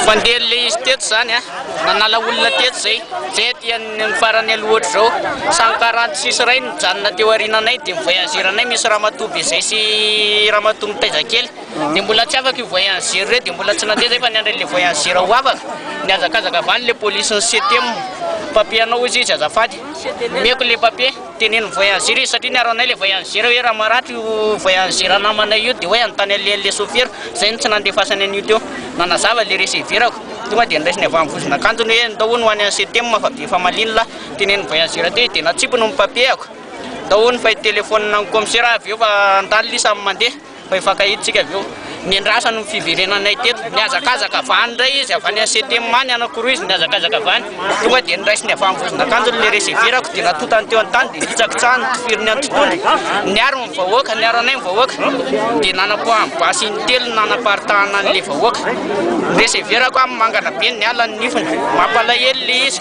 Fandeha ilay izy teto izany a, nanala olona teto izay, izay aty amin'ny farany aloha ohatr'izao, samy karanty sisy iray no nijanona teo aoriananay dia mi-voyager-nay, misy ramatoa be izay sy ramatoa mitaiza kely, dia mbola tsy afaka io voyager ireo dia mbola tsy nandeha izay fa niandry an'ilay voyager ho afaka, nihazakazaka avy any ilay polisy ny CTEM, papier anao hoy izy azafady, omeko ilay papier. Teneno voyageur izy satria niaro anay le voyageur hoe raha maratra io voyageur namanay io dia hoe hanontany an'ilay le sôfera, izay no tsy nandefasany an'io teo. Nanazava ilay reseverako, tonga dia niraisiny avy amin'ny vozon'akanjony hoe ndao hono ho any Setem fa be efa malemy lahy. Teneniny voyageur teo izy dia natsipiny ny papier-ako. Ndao hono fa hitelefaonina ny kaomisera aho avy eo fa andaly lisa mandeha. Fa hifankahitsika avy eo. Niandrasany ny fiverenanay teto. Nihazakazaka avy any indray izy, avy any Ansetema any, anankiroa izy no nihazakazaka avy any. Tonga dia noraisiny avy amin'ny vozon'akanjony ilay reseverako dia natotany teo an-tany dia nitsakitsahany ny tifiriny an-totony. Niaro ny vahoaka, niaro anay ny vahoaka. Dia nanapoahany basy in-telo ny nanaparitahana an'ilay vahoaka. Ny reseverako amin'ny mangana be niala ny nifiny. Mampalahelo ilay izy.